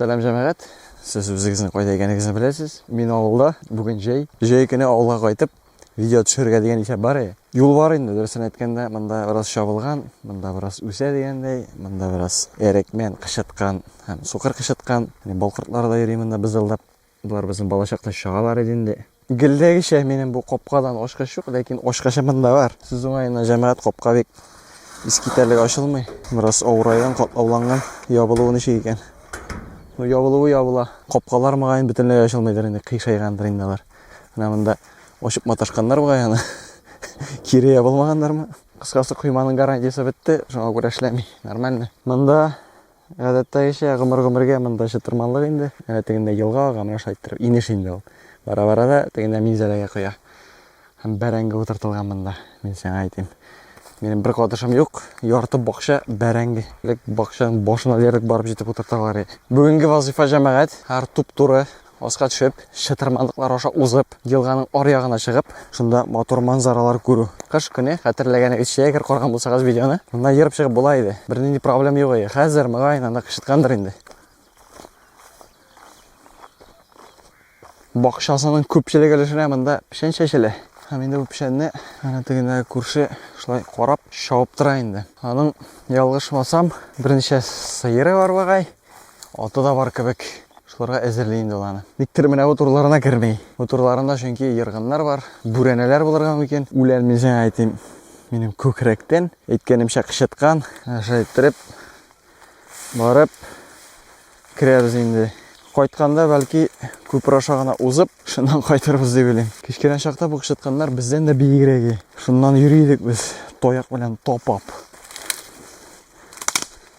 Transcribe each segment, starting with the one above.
Сәлам җәмәгать. Сез үзегезнең кайда икәнегезне беләсез. Мин авылда. Бүген җәй. Җәй көне авылга кайтып, видео төшерергә дигән исәп бар иде. Юл бар инде, дөресен әйткәндә, монда бераз чабылган, монда бераз үсә дигәндәй, монда бераз әрекмән кычыткан һәм сукыр кычыткан. Балкортлар да йөри монда бызылдап. Болар безнең балачакта чагалар иде инде. Гелдәгечә минем бу капкадан ачкыч юк, ләкин ачкычы монда бар. Сүз уңаена, җәмәгать капка бик искитәрлек ачылмый. Бераз авырайган, катлауланган. Ябылуы ничек икән? Ну, ябылуы ябыла. Капкалар мөгаен бөтенләй ачылмыйдыр инде, кыйшайгандыр инде алар. Менә монда ачып маташканнар бугай аны. Кире ябылмаганнармы? Кыскасы, койманың гарантиясе бетте, шуңа күрә эшләми. Нормально. Монда Гадәттәгечә, гомер-гомергә монда чытырманлык инде. Әнә тегендә елга ага, менә шулай иттереп, инеш инде ул. Бара-бара да тегендә Минзәләгә коя. Һәм бәрәңге утыртылган монда, мин сиңа әйтим. Минем бер катышым юк, ярты бакча бәрәңге. Элек бакчаның башына диярлек барып җитеп утырталар иде. Бүгенге вазыйфа җәмәгать, һәр туп-туры Аска төшеп, чытырманлыклар аша узып, елганың аръягына чыгып, шунда матур манзаралар күрү. Кыш көне, хәтерләгәнегез, чәй әгәр караган булсагыз видеоны, монда ерып чыгып була иде. Бернинди проблем юк иде. Хәзер, мөгаен, анда кычыткандыр инде. Бакчасының күпчелек өлешенә монда печән чәчелә. Һәм инде бу печәнне әнә тегендәге күрше шулай карап, чабып тора инде. Аның, ялгышмасам, берничә сыеры бар багай. Аты да бар кебек. Шуларга әзерли инде ул аны. Никтер менә бу турларына керми. Бу турларында чөнки ергыннар бар, бүрәнәләр булырга мөмкин. Үлән мин сиңа әйтим, минем күкрәктән әйткәнемчә кычыткан. Шулай иттереп барып керәбез инде. Кайтканда бәлки күпер аша гына узып, шуннан кайтырбыз дип уйлыйм. Кечкенә чакта бу кычытканнар бездән дә биегрәге. Шуннан йөри идек без таяк белән тапап.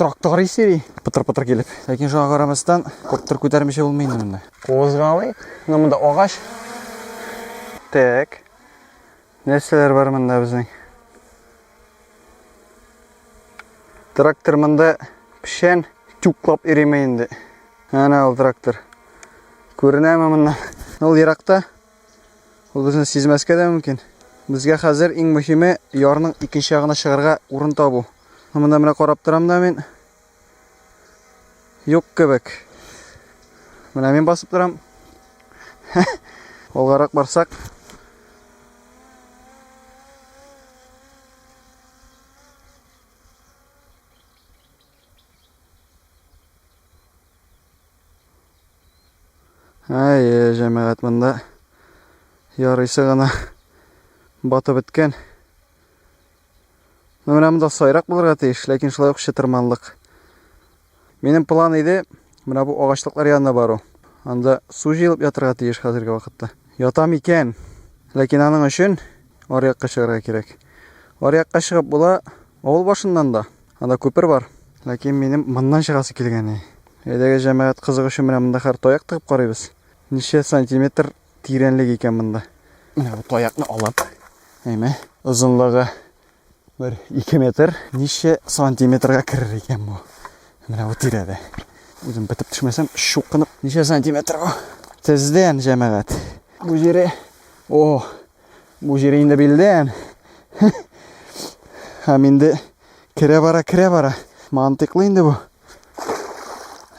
Трактор исери, пытыр-пытыр килеп. Ләкин шуңа карамастан, күптер күтәрмичә булмый инде монда. Козгалый. Менә монда агач. Так. Нәрсәләр бар монда безнең? Трактор монда пешән тюклап иреме инде. Әнә ул трактор. Күренәме моннан? Ул еракта Ул безне сизмәскә дә мөмкин. Безгә хәзер иң мөһиме ярның икенче ягына чыгарга урын табу. Монда менә карап торам да мин. Юк кебек. Менә мин басып торам. Алгарак барсак. Әйе, җәмәгать монда ярыйсы гына батып беткән. Ну, менә монда сайрак булырга тиеш, ләкин шулай ук чытырманлык. Минем план иде, менә бу агачлыклар янына бару. Анда су җыелып ятырга тиеш хәзерге вакытта. Ятам икән, ләкин аның өчен аръякка чыгарга кирәк. Аръякка чыгып була, авыл башыннан да. Анда күпер бар. Ләкин минем моннан чыгасы килгәне. Әйдәгә җәмәгать кызык өчен менә монда хәр таяк тыгып карыйбыз. Ничә сантиметр тирәнлек икән монда. Менә бу таякны алып, әйме, озынлыгы бер 2 метр, ничә сантиметрга керер икән бу? Менә бу тирәдә. Үзем бетеп төшмәсәм, чукынып, ничә сантиметр бу? Тездән җәмәгать. Бу җире, о, Бу җире инде билдән. Һәм инде керә бара, керә бара. Мантыклы инде бу.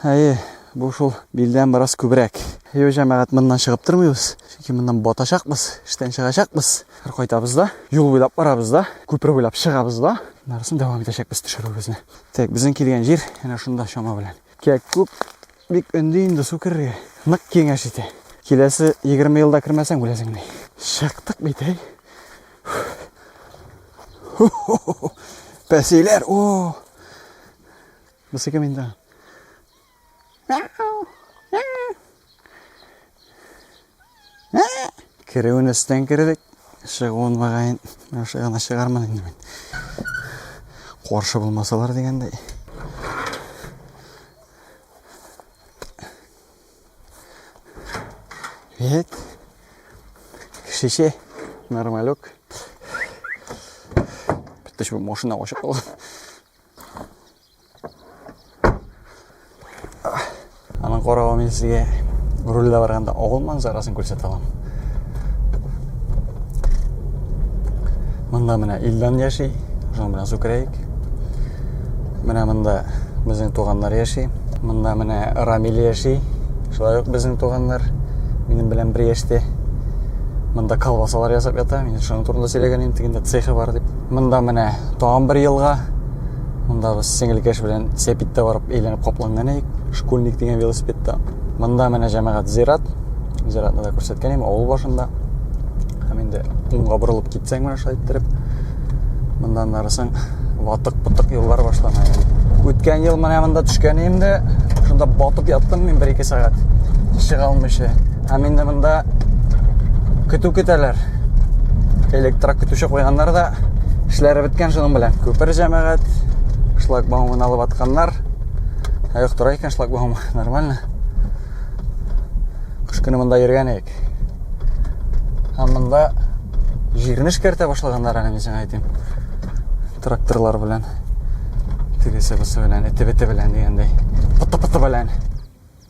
Әйе, бу шул билдән бераз күбрәк. Йо, җәмәгать, моннан чыгып тормыйбыз. Чөнки моннан батачакбыз, эштән чыгачакбыз. Хәр кайтабыз да, юл буйлап барабыз да, күпер буйлап чыгабыз да. Нарсын дәвам итәчәкбез төшерүебезне. Так, безнең килгән җир әнә шунда чама белән. Кәк күп. Бик өнди инде су керергә. Нык киңәш итә. Киләсе 20 елда кермәсәң үләсең ди. Чыктык бит, әй. Пәсиләр, о! Бусыкым инде. Ә, керүен өстен кердек. Чыгуын мөгаен яхшы гына чыгармын инде мин. Каршы булмасалар дигәндәй. Вет. Кешече нормалек. Битте шул машина ашып калган. Аның каравы мин сезгә рульдә барганда авыл манзарасын күрсәтә алам. Монда менә Илдан яши, шуның белән сүкерәйек. Менә монда безнең туганнар яши. Монда менә Рамил яши. Шулай ук безнең туганнар минем белән бер яшьтә. Монда колбасалар ясап ята. Мин шуның турында сөйләгән идем, тегендә цехы бар дип. Монда менә тагын бер елга. Монда без сеңелкәш белән сәпиттә барып әйләнеп капланган идек. Школьник дигән велосипедта. Монда менә җәмәгать зират. Зиратны да күрсәткән идем авыл башында. Һәм инде уңга борылып китсәң менә шулай иттереп. Монда нарысың ватык-пытык юллар башлана. Үткән ел менә монда төшкән идем дә, шунда батып яттым мин 1-2 сәгать. Чыга алмыйча. Һәм инде монда көтү көтәләр. электрак көтүче куйганнар да эшләре беткән шуның белән күпер җәмәгать шлагбаумын алып атканнар ә юк тора икән шлагбаумы нормально кыш көне монда йөргән идек һәм монда җирне эшкәртә башлаганнар әле мин сиңа әйтим тракторлар белән тегесе бусы белән эте бете белән дигәндәй пыты пыты белән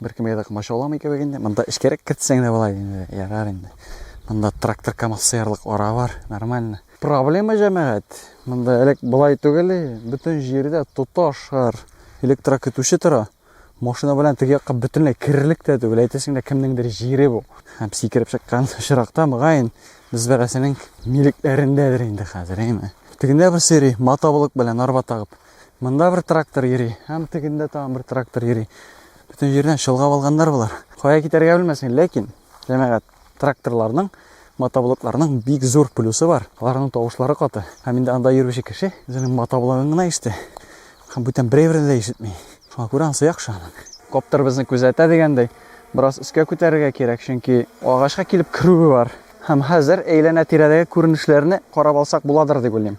Беркемгә дә комачауламый кебек инде. Монда эчкәрәк кертсәң дә була инде. Ярар инде. Монда трактор КАМАЗ сыярлык ара бар. Нормально. Проблема җәмәгать. Монда элек болай түгел, бөтен җирдә тоташ шар электрокөтүче тора. Машина белән теге якка бөтенләй керерлек тә түгел. Әйтәсең дә кемнеңдер җире бу. Һәм сикереп чыккан очракта мөгаен без берәрсенең милекләрендәдер инде хәзер, әйме. Тегендә бер сыйрый, матабылык белән арба тагып. Монда бер трактор йөри, һәм тегендә тагын бер трактор йөри. Бөтен җирдән чолгап алганнар болар. Кая китәргә белмәсен, ләкин җәмәгать тракторларның мотоблокларның бик зур плюсы бар. Аларның тавышлары каты. Һәм инде анда йөрүче кеше үзенең мотоблогын гына ишетә. Һәм бүтән берәү дә ишетми. Шуңа күрә ансы яхшы аның. Коптер безне күзәтә дигәндәй, бераз өскә күтәрергә кирәк, чөнки агачка килеп керүе бар. Һәм хәзер әйләнә-тирәдәге күренешләрне карап алсак буладыр дип уйлыйм.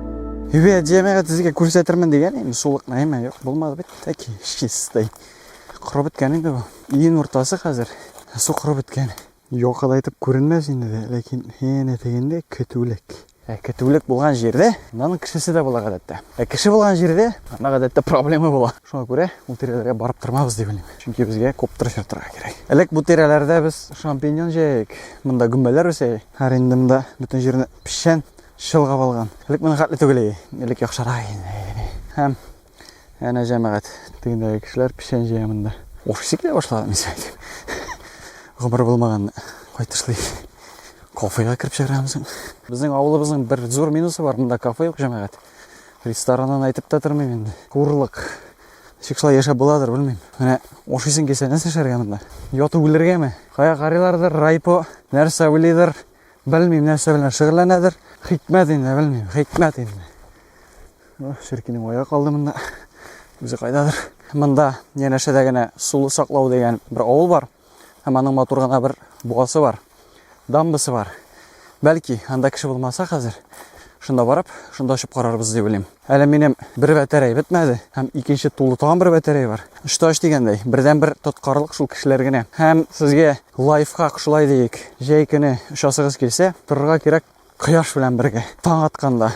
Юбе дияме сезгә күрсәтермен дигән инде сулык нәймә юк булмады бит таки чистый. Корып беткән инде бу. Июнь уртасы хәзер. Су корып беткән. Якыда итеп күренмәс инде дә, ләкин янә тегендә көтүлек. Ә көтүлек булган җирдә аның кешесе дә була гадәттә. Ә кеше булган җирдә ана гадәттә проблема була. Шуңа күрә ул тирәләргә барып тормабыз дип уйлыйм. Чөнки безгә күп тырыш ятырга кирәк. Элек бу тирәләрдә без шампиньон җәйек. Монда гөмбәләр үсә. Һәр инде монда бөтен җирне печән чолгап алган. Элек моның хәтле түгел иде. Элек яхшырак иде. Һәм әнә җәмәгать тегендәге кешеләр печән җыя монда. Офисы килә башлады мин сезгә. Гомер булмаган кайтышлый. Кофега кереп чыграмыз. Безнең авылыбызның бер зур минусы бар, монда кафе юк җәмәгать. Рестораннан әйтеп тә тормыйм инде. Курлык. Ничек шулай яшәп буладыр, белмим. Менә офисын кесә нәрсә эшләргә монда? Ятып үлергәме? Кая карыйлардыр, райпо, нәрсә уйлыйдыр? Белмим, нәрсә белән шөгыльләнәдер. Хикмәт инде, белмим, хикмәт инде. Ширкинең аяğı калды монда. Үзе кайдадыр. Монда янәшәдә генә сулы саклау дигән бер авыл бар. Һәм аның матур гына бер буасы бар. Дамбасы бар. Бәлки, анда кеше булмаса хәзер, шунда барып, шунда очып карарбыз дип уйлыйм. Әле минем бер бәтәрәй бетмәде һәм икенче тулы тагын бер бәтәрәй бар. Очта оч дигәндәй, бердән-бер тоткарлык шул кешеләр генә. Һәм сезгә Лайфхак, шулай диик, җәй көне очасыгыз килсә, торырга кирәк кояш белән бергә, таң атканда.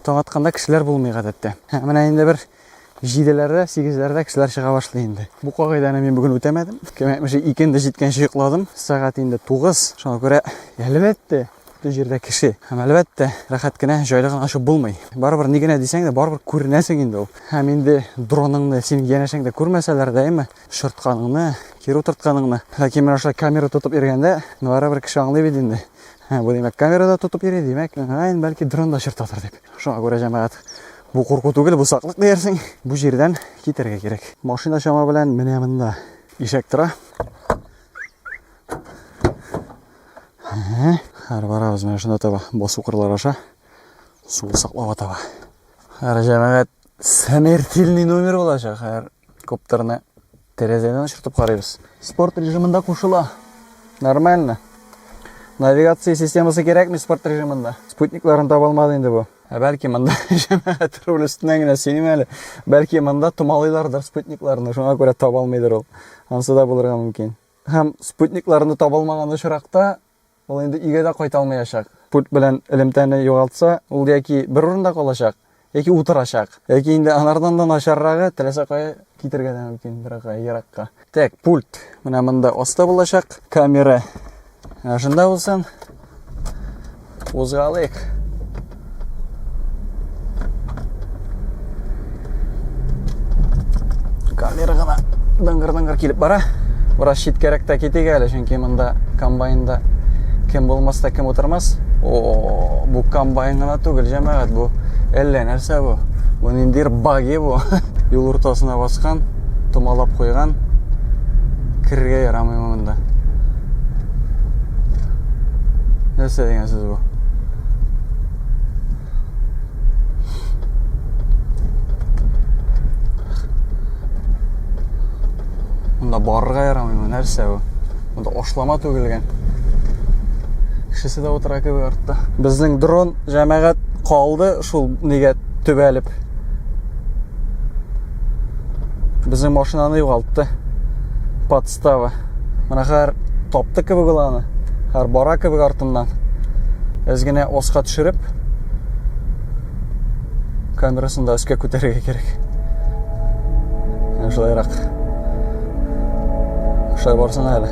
Таң атканда кешеләр булмый гадәттә. Ә менә инде бер җиделәрдә, сигезләрдә кешеләр чыга башлый инде. Бу кагыйдәне мин бүген үтәмәдем. Кем әйтмешли, икенде җиткәнче йокладым. Сәгать инде тугыз. Шуңа күрә, әлбәттә, бөтен җирдә кеше. Һәм әлбәттә, рәхәт кенә, җайлы гына очып булмый. Барыбер ни генә дисәң дә, барыбер күренәсең инде ул. Һәм инде дроныңны синең янәшәңдә күрмәсәләр дә, әйме, Чыртканыңны, кире утыртканыңны. Ләкин менә шулай камера тотып йөргәндә, барыбер кеше аңлый бит инде. Ә, бу димәк, камерада тотып йөри, димәк, гаен бәлки дронда чыртатыр дип. Шуңа күрә җәмәгать, бу курку түгел, бу саклык диярсең. Бу җирдән китәргә кирәк. Машина чама белән менә монда ишәк тора. Хәр барабыз менә шунда таба, басу кырлар аша. Суы саклап атаба. Хәр җәмәгать, сәмертилний номер булачак, хәр. Коптерны тәрәзәдән очыртып карыйбыз. Спорт режимында кушыла. Нормально. Навигация системасы кирәкме спорт режимында? Спутникларын таба алмады инде бу. Ә бәлки монда җәмәгать руль өстеннән генә сөйлим әле. Бәлки монда томалыйлардыр спутникларны, шуңа күрә таба алмыйдыр ул. Ансы да булырга мөмкин. Һәм спутникларны таба алмаган очракта Ул инде өйгә дә кайта алмаячак. Пульт белән элемтәне югалтса, ул яки бер урында калачак, яки утырачак. Яки инде анардан да начаррагы, теләсә кая китергә дә мөмкин, беркая еракка. Так, пульт менә монда аста булачак. Камера менә шунда булсын. Кузгалыйк. Камера гына дыңгыр-дыңгыр килеп бара. Бераз читкәрәк тә китик әле, чөнки монда комбайнда кем булмас та кем утырмас. О, бу комбайн гына түгел, җәмәгать, бу әллә нәрсә бу. Бу ниндидер баги бу. Юл уртасына баскан, томалап куйган. Керергә ярамый монда. Нәрсә дигән сүз Монда барырга ярамыймы, нәрсә бу? Монда ашлама түгелгән. Кешесе дә утыра кебек артта. Безнең дрон җәмәгать калды шул нигә төбәлеп. Безнең машинаны югалтты. Подстава. Менә хәзер тапты кебек ул аны. Хәзер бара кебек артыннан. Без генә оска төшереп камерасын да өскә күтәрергә кирәк. Менә шулайрак. Шулай барсын әле.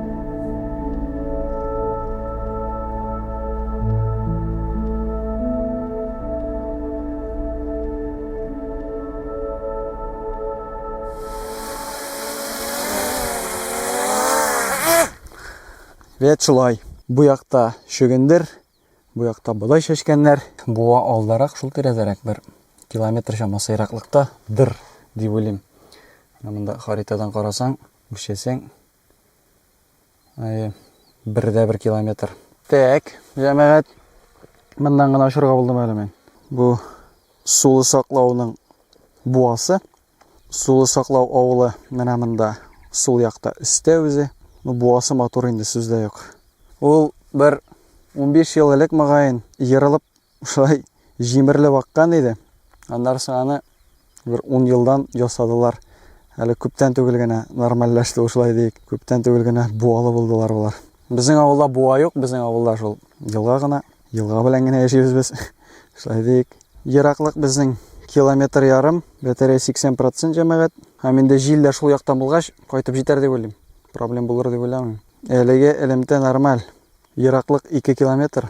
Вәт шулай. Бу якта шөгендер, бу якта бодай шешкәннәр. Буа алдарак шул тирәдәрәк бер километр чамасы ераклыкта дыр дип уйлыйм. Монда харитадан карасаң, үчесең, Әйе, бер дә бер километр. Тәк, җәмәгать, мындан гына очырга булдым әле мин. Бу сулы саклауның буасы. Сулы саклау авылы менә монда, сул якта өстә үзе. Ну, буасы матур инде, сүз дә юк. Ул бер 15 ел элек, мөгаен, ерылып Шулай җимерелеп аккан иде. Аннары соң аны бер ун елдан ясадылар. Әле күптән түгел генә нормальләште ул шулай диик. Күптән түгел генә буалы булдылар болар. Безнең авылда буа юк, безнең авылда шул елга гына. Елга белән генә яшибез без. Шулай диик. Ераклык безнең километр ярым, бәтәрәй 80 процент җәмәгать. Һәм инде җил дә шул яктан булгач, кайтып җитәр дип уйлыйм. Проблем булыр дип уйламыйм. Әлеге элемтә нормаль. Ераклык 2 километр.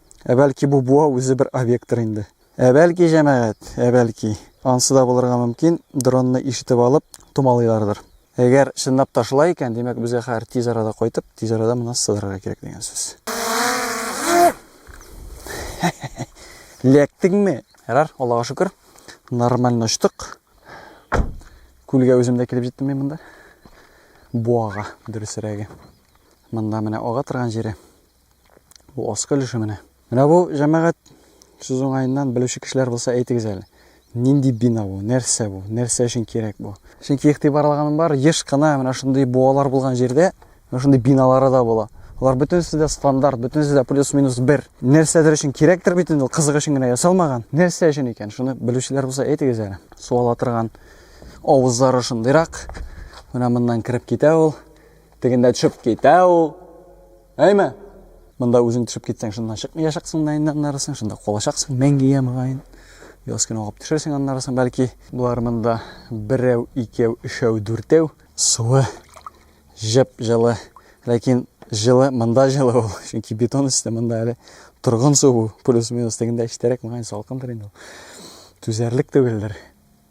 Ә бәлки бу буа үзе бер объекттыр инде. Ә бәлки, җәмәгать, ә бәлки. Ансы да булырга мөмкин, дронны ишетеп алып, томалыйлардыр. Әгәр чынлап та шулай икән, димәк, безгә хәзер тиз арада кайтып, тиз арада моннан сыдырырга кирәк дигән сүз. Ләктеңме? Ярар, Аллага шөкер. Нормально очтык. Күлгә үзем дә килеп җиттем мин монда. Буага, дөресрәге. Монда менә ага торган җире. Бу аскы өлеше менә. Менә бу җәмәгать сүз уңаеннан белүче кешеләр булса әйтегез әле. Нинди бина бу? Нәрсә бу? Нәрсә өчен кирәк бу? Чөнки игътибар алганым бар, еш кына менә шундый буалар булган җирдә менә шундый биналары да була. Алар бөтенесе дә стандарт, бөтенесе дә плюс-минус бер. Нәрсәдер өчен кирәктер бит инде, кызык өчен генә ясалмаган. Нәрсә өчен икән? Шуны белүчеләр булса әйтегез әле. Су ала торган авызлары шундыйрак. Менә моннан кереп китә ул. Тегендә төшеп китә ул. Әйме! Монда үзең төшеп китсәң, шуннан чыкмыячаксың да инде аннары соң, шунда калачаксың мәңгегә мөгаен. Яз көне агып төшерсең аннары соң, бәлки. Болар монда берәү, икәү, өчәү, дүртәү. Суы җып җылы. Ләкин җылы, монда җылы ул. Чөнки бетон өсте, монда әле торгын су бу. Плюс-минус тегендә эчтәрәк, мөгаен, салкындыр инде ул. Түзәрлек түгелдер.